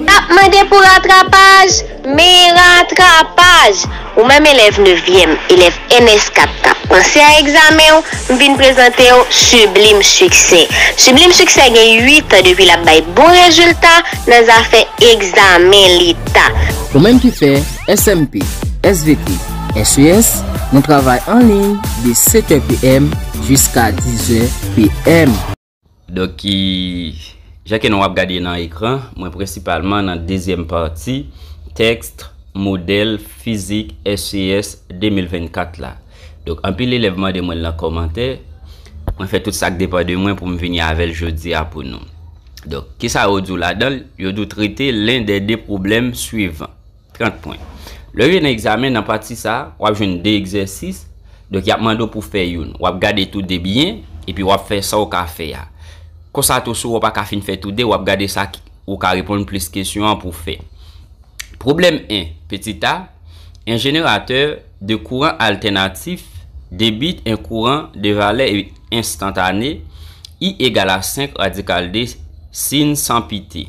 Nap mande pou ratrapaj, men ratrapaj! Ou menm elèv nevyèm, elèv ns 4 kap panse a egzamen w, m vin prezante w Sublime Succès. Sublime Succès gen 8 an depi lap bay bon rezilta nan zafè egzamen leta. Ou menm ki fè SMP, svp, ses, nou travay anliy de 7 è PM jiska 10 è PM. Donk ki jan ke nou ap gade nan ekran, mwen prensipalman nan dezyèm pati tèkst modèl fizik SES 2024 la. Donk anpil elèv mande mwen l nan kòmantè, mwen fè tout sa k depan de mwen pou m vini avè l jodi a pou nou. Donk, kisa yo di w ladan l? Yo di w trete len dè de pwoblèm swivan. 30 pwen. Lè w rive nan egzamen nan pati sa a, w ap jwenn 2 egzèsis. Donk y ap mande w pou w fè youn. W ap gade tou 2 byen, epi w ap fè sa w ka fè a. Konsa tou si w wè w pa ka fin fè tou 2, w ap gade sa ki ou ka reponn plis kesyon an pou w fè. Pwoblèm 1, pitit a, 1 jeneratè de kouran altènatif debite 1 kouran de valè enstantane I egal a 5 radikal de sin san pite.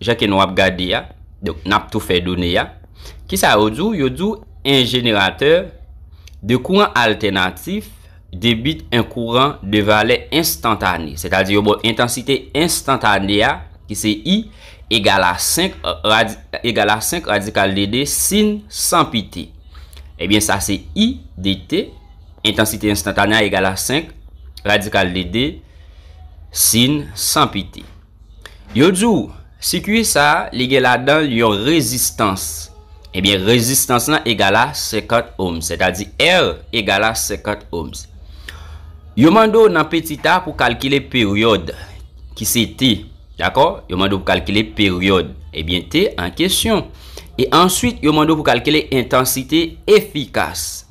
Jan ke nou ap gade a, donk n ap tou fè done a. Kisa yo di w? Yo di w 1 jeneratè de kouran altènatif debit 1 kouran de valè enstantane, sètadi yo ba w entansite enstantane a ki se I egal a 5 rad egal a 5 radikal de 2 sin 100 pi t. Ebyen sa se I de t, entansite enstantane a egal a 5 radikal de 2 sin 100 pi t. Yo di w, sikui sa a, li gen ladan l yon rezistans. Ebyen, rezistans lan egal a 50 ohms, sètadi R egal a 50 ohms. Yo mande w nan petit a pou kalkile peryòd, ki se T. Dakò? Yo mande w pou kalkile peryòd, ebyen T an kesyon. E answit, yo mande w pou kalkile entansite efikas.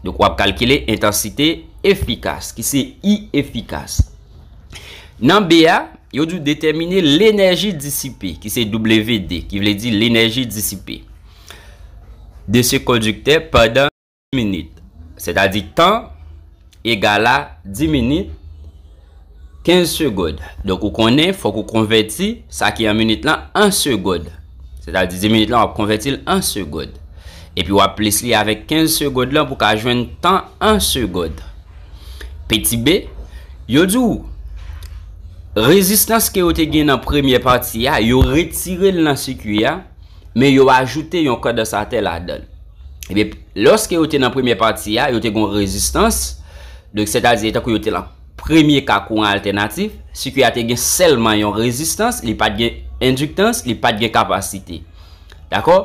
Donk, w ap kalkile entansite efikas, ki se I efikas. Nan B a, yo di w detèmine lenèji disipe, ki se WD, ki vle di lenèji disipe, de se kondiktè pandan 10 minit. Sètadi tan egal a 10 minit, 15 segond. Donk ou konnen fòk ou konvèti sa ki an minit lan an segond. Sètadi 10 minit lan w ap konvèti l an segond. Epi w ap plis li avèk 15 segond lan pou w ka jwenn tan an segond. Petit B, Yo di w, rezistans ke yo te gen nan premye pati a, yo retire l nan sikui a, men yo ajoute yon kondansatè ladan l. Ebyen, lòske yo te nan premye pati a, yo te gen yon rezistans, donk sètadi etankou yo te lan premye ka kouran altènatif, sikui a te gen sèlman yon rezistans, li pa t gen endiktans, li pa t gen kapasite. Dakò?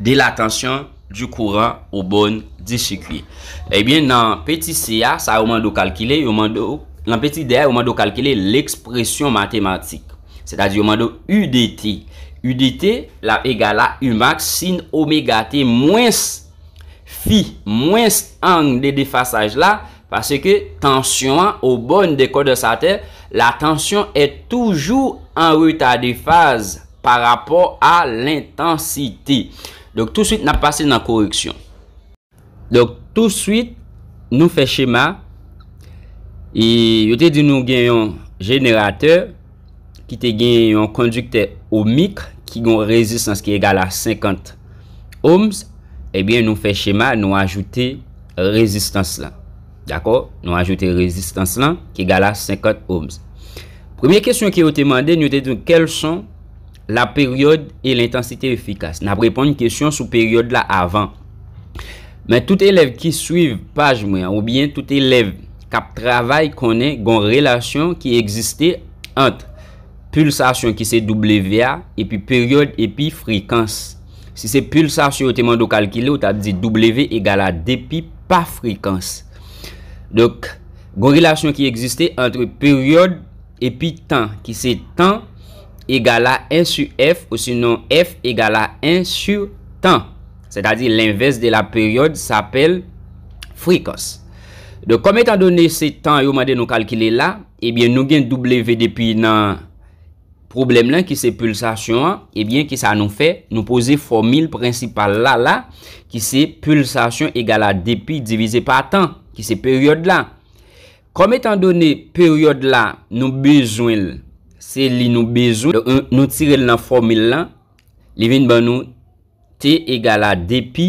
de la tansyon, di kouran oubon di sikui. Ebyen nan peti si a, sa yo mande ou kalkile, yo mande ou, nan peti de a, yo mande ou kalkile lekspresyon matematik. Se ta di yo mande ou U de T. U de T l ap egal a U max sin omega T mwens fi mwens ang de defasaj la, Paske tansyon an o bòn de kondansatè la tansyon è toujou an reta de faz pa rapò a lentansite. Donk touswit nap pase nan koreksyon. Donk touswit nou fè chema e yo te di nou gen yon jeneratè. ki te gen yon kondiktè ohmik ki gen yon rezistans ki egal a 50 ohms, ebyen nou fè chema nou ajoute rezistans lan. Dakò? Nou ajoute rezistans lan ki egal a 50 ohms. Premye kesyon ke yo te mande n yo te di nou kèl son la peryòd e lentansite efikas. N ap reponn kesyon sou peryòd la avan. Men tout elèv ki swiv paj mwen an oubyen tout elèv k ap travay konnen gon relasyon ki egziste ant pilsasyon ki se W a epi peryòd epi frekans. Si se pilsasyon yo te mande w kalkile, ou t ap di W egal a 2 pi pa frekans. Donk, gon relasyon ki egziste antre peryòd epi tan ki se tan egal a 1 su F osinon F egal a 1 su tan. Sètadi lenvès de la peryòd sapèl frekans. Donk kòm etan done se tan yo mande nou kalkile la, ebyen nou gen W depi nan pwoblèm lan ki se pulsasyon an, ebyen ki sa nou fè? Nou poze fòmil prensipal la la ki se pulsasyon egal a dp divize pa tan ki se peryòd la. Kòm etan done peryòd la nou bezwen l se li nou bezwen, donk nou tire l nan fòmil lan, li vin ban nou T egal a dpi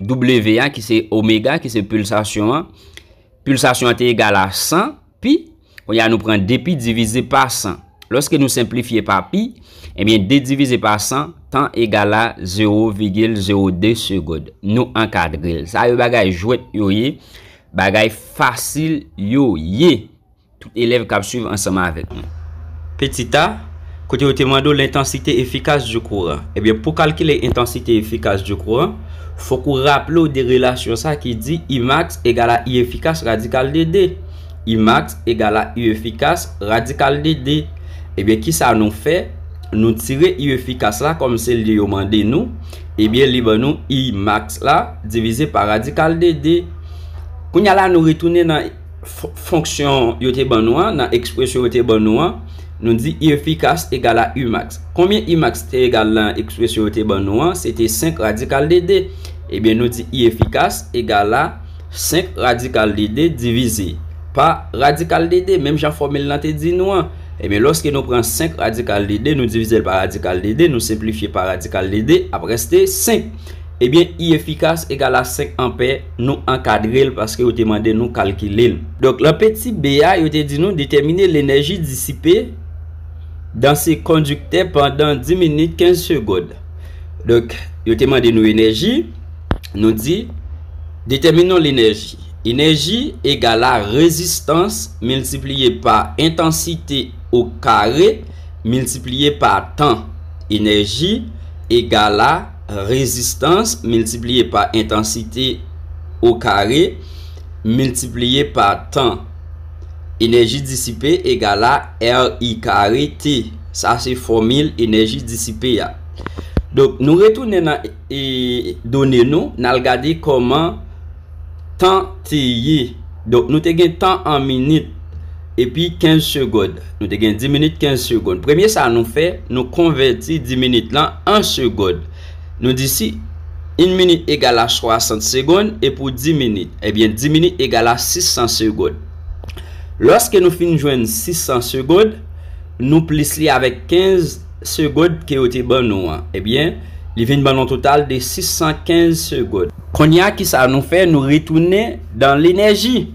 W a ki se omega ki se pulsasyon an. Pulsasyon an te egal a 100 pi. Kounye a nou pran 2 pi divize pa 100. Lòske nou senplifye pa pi, ebyen 2 divize pa 100, tan egal a 0,02 segond. Nou ankadre l. Sa yo bagay jwèt yo ye. Bagay fasil yo ye. Tout elèv kab swiv ansanm avèk nou. Petit a, kote yo te mande w l'intensité efficace du courant. Ebyen, pou kalkile intensité efficace du courant, fòk ou raple w de relasyon sa ki di I max egal a I efficace radikal de 2. I max egal a I efficace radikal de 2. Ebyen, ki sa nou fè? Nou tire I efficace la kòm se li yo mande nou, ebyen li ban nou I max la divize pa radikal de 2. Kounye a la nou retounen nan. fonksyon yo te ban nou an, nan ekspresyon yo te ban nou an, nou di I efikas egal a I max. Konbyen I max te egal nan ekspresyon yo te ban nou an? Se te 5 radikal de 2. Ebyen nou di I efikas egal a 5 radikal de 2 divize pa radikal de 2, menm jan fòmil lan te di nou an. Ebyen lòske nou pran 5 radikal de 2, nou divize l pa radikal de 2, nou senplifye pa radikal de 2, ap reste 5. Ebyen I efikas egal a 5 anpè. Nou ankadre l paske yo te mande nou kalkile l. Donk, lan peti b a, yo te di nou detèmine lenèji disipe dan se kondiktè pandan 10 minit 15 segond. Donk, yo te mande nou enèji, nou di, detèminon lenèji. Enèji egal a rezistans miltipliye pa entansite o kare miltipliye pa tan. Enèji egal a. Rezistans miltipliye pa entansite o kare miltipliye pa tan. Enèji disipe egal a RI kare T. Sa se fòmil enèji disipe a. Donk nou retounen nan done nou, n al gade kòman. Tan te ye. Donk nou te gen tan an minit epi kenz segond. Nou te gen di minit kenz segond. Premye sa nou fè, nou konvèti di minit lan an segond. Nou di si in minit egal a swasant segond e pou di minit, ebyen di minit egal a sis san segond. Lòske nou fin jwenn sis san segond, nou plis li avèk kenz segond ke yo te ban nou an, ebyen li vin ban nou total de sis san kenz segond. Konnya kisa nou fè nou retounen dan lenèji.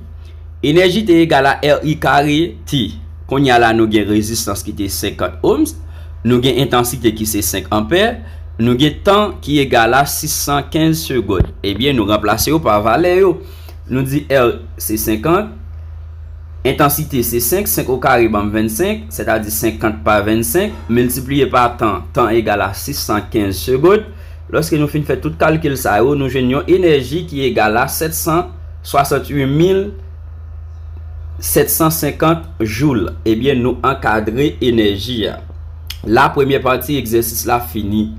Enèji te egal a RI kare T. Konnya la nou gen rezistans ki te 50 ohms, nou gen entansite ki se 5 anpè, nou gen tan ki egal a 615 segond. Ebyen nou ranplase yo pa valè yo. Nou di R se 50, entansite se 5, 5 o kare banm 25, sètadi 50 pa 25, miltipliye pa tan, tan egal a 615 segond. Lòske nou fin fè tout kalkil sa yo, nou jwenn yon enèji ki egal a 768 mil 750 joul. Ebyen nou ankadre enèji a. La premyè pati egzèsis la fini.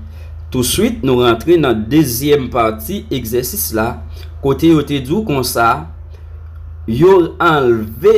Touswit nou rantre nan dezyèm pati egzèsis la kote yo te di w konsa yo anlve.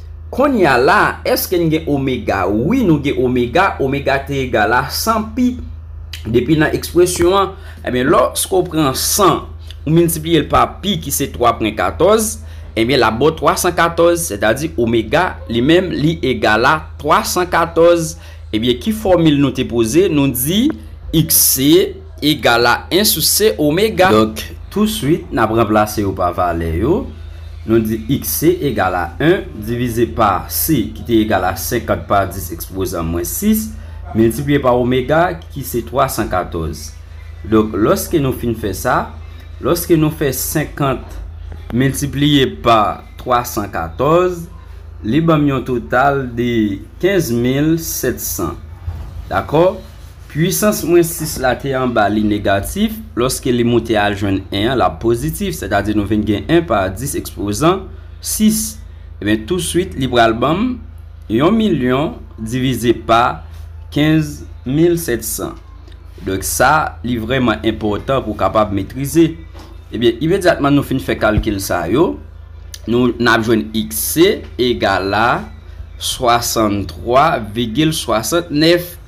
Konnya la eske n gen omega wi nou gen omega omega te egal a 100 pi depi nan ekspresyon an ebyen lòske w pran 100 ou miltipliye l pa pi ki se 3 pwen 14 ebyen l ap ba w 314 sètadi omega li menm li egal a 314 ebyen ki fòmil nou te poze nou di x se Egal a 1 sou C omega. Donk, touswit, n ap ranplase yo pa valè yo. Nou di xc egal a 1 divize pa C ki te egal a 50 pa 10 ekspozan mwens 6, miltipliye pa omega ki se 314. Donk, lòske nou fin fè sa, lòske nou fè 50 miltipliye pa 314, li ban m yon total de 15700. Dakò? Pwisans mwens 6 la te anba li negatif, lòske li moute al jwenn 1 an, l ap pozitif, sètadi nou vin gen 1 pa 10 ekspozan 6. Ebyen, touswit li pral ban m yon milyon divize pa 15700. Donk sa, li vrèman enpòtan pou w kapab metrize. Ebyen, imedyatman nou fin fè kalkil sa yo, nou n ap jwenn xc egal a 63,69.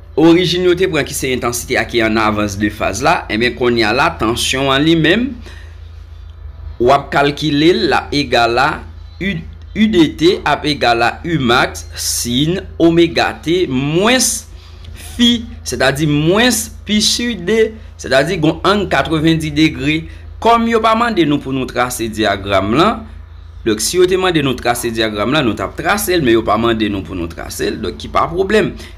Orijin yo te pran ki se entansite a ki an avans de faz la, enben kounye a la tansyon an li menm w ap kalkile l l ap egal a Udt ap egal a Umax sin omega t mwens Fi sètadi mwens Pi su D sètadi gon ang 90 degre. Kòm yo pa mande nou pou nou trase dyagram lan, donk si yo te mande nou trase dyagram lan nou t ap trase l men yo pa mande nou pou nou trase l donk ki pa pwoblèm.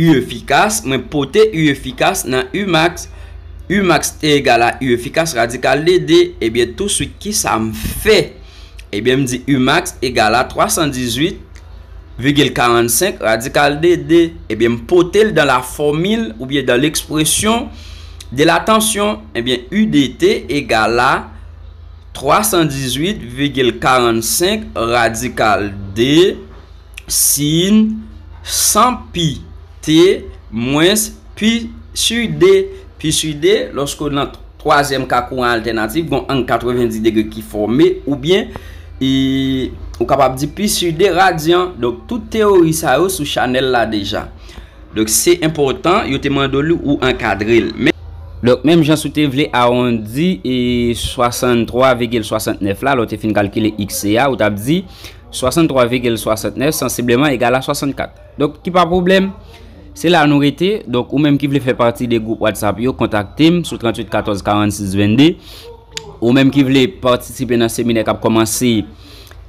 U efikas, mwen pote U efikas nan U max, U max te egal a U efikas radikal de 2, ebyen tou swit ki sa m fè? Ebyen m di U max egal a 318,45 radikal de 2, ebyen m pote l dan la fòmil oubyen dan lekspresyon de la tansyon, ebyen U de T egal a 318,45 radikal de. Sin, san pi, te, mwens, pi, si, de, pi, si, de, lòske nan twazyèm ka kouran altènatif gon ang 90 degre ki fòme, oubyen, e, ou kapab di pi, si, de, radyan. Donk, tout teyori sa yo sou chanèl la deja. Donk, se enpòtan, yo te mande li ou ankadre l. Donk, menm jan si w te vle awondi e 63 vigil 69 la, lè w te fin kalkile xc a, ou t ap di. 63 vigil 69 sansibleman egal a 64. Donk ki pa pwoblèm, se la nou rete. Donk ou menm ki vle fè pati de gwoup WhatsApp yo, kontakte m sou 38 14 46 22. Ou menm ki vle patisipe nan seminè k ap kòmanse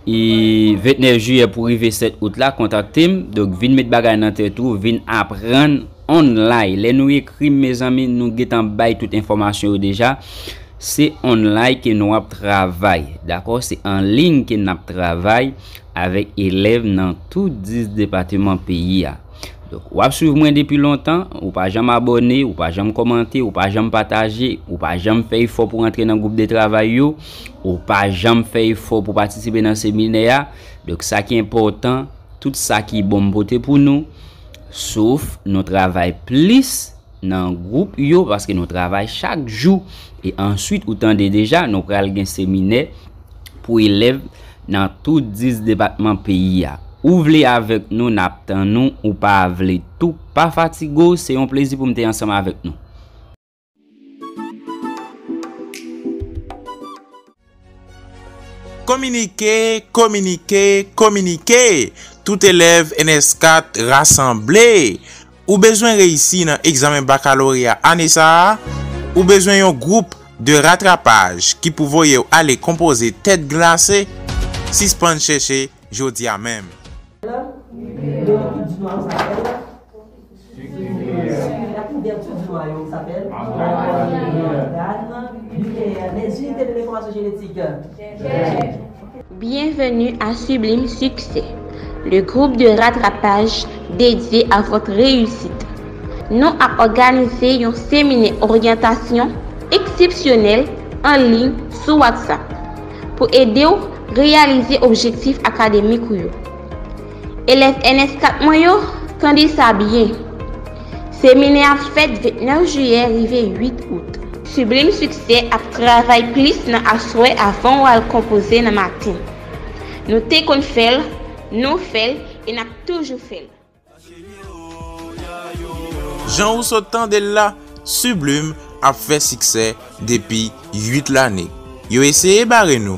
29 jiyè pou rive 7 out la, kontakte m. Donk vin met bagay nan tèt ou, vin aprann. On line lè nou ekrim mezanmi nou gentan bay tout enfòmasyon yo deja se on line ke nou ap travay dakò se an ligne ke nap travay avèk elèv nan tout 10 depateman peyi a donk wap swiv mwen depi lontan ou pa janm abòne ou pa janm kòmante ou pa janm pataje ou pa janm fè efò pou rantre nan gwoup de travay yo ou pa janm fè efò pou patisipe nan seminè a donk sa ki enpòtan tout sa ki bon m pote pou nou. Sof nou travay plis nan gwoup yo paske nou travay chak jou e answit ou tande deja nou pral gen seminè pou elèv nan tout 10 depatman peyi a. Ou vle avèk nou nap tann ou, ou pa vle tou pa fatige w se yon plezi pou m te ansanm avèk nou. Kominike, kominike, kominike! Tout elèv ns 4 rasanble! Ou bezwen reyisi nan egzamen bakaloreya ane sa a? Ou bezwen yon gwoup de ratrapaj ki pou voye w ale konpoze tèt glase? Sispann chèche jodi a menm! Bienvenue à Sublime Succès, le groupe de rattrapage dédié à votre réussite. Nou ap òganize yon seminè oryantasyon eksepsyonèl an liy sou WhatsApp pou ede w reyalize objektif akademik ou yo. Elèv ns 4 mwen yo, tande sa byen! Seminè ap fèt 29 jiyè rive 8 out. Sublime Succès ap travay plis nan aswè avan w al konpoze nan maten. Nou te konn fè l, nou fè l e n ap toujou fè l. Jan ou sot tande l la, Sublime ap fè siksè depi 8 lane. Yo eseye bare nou.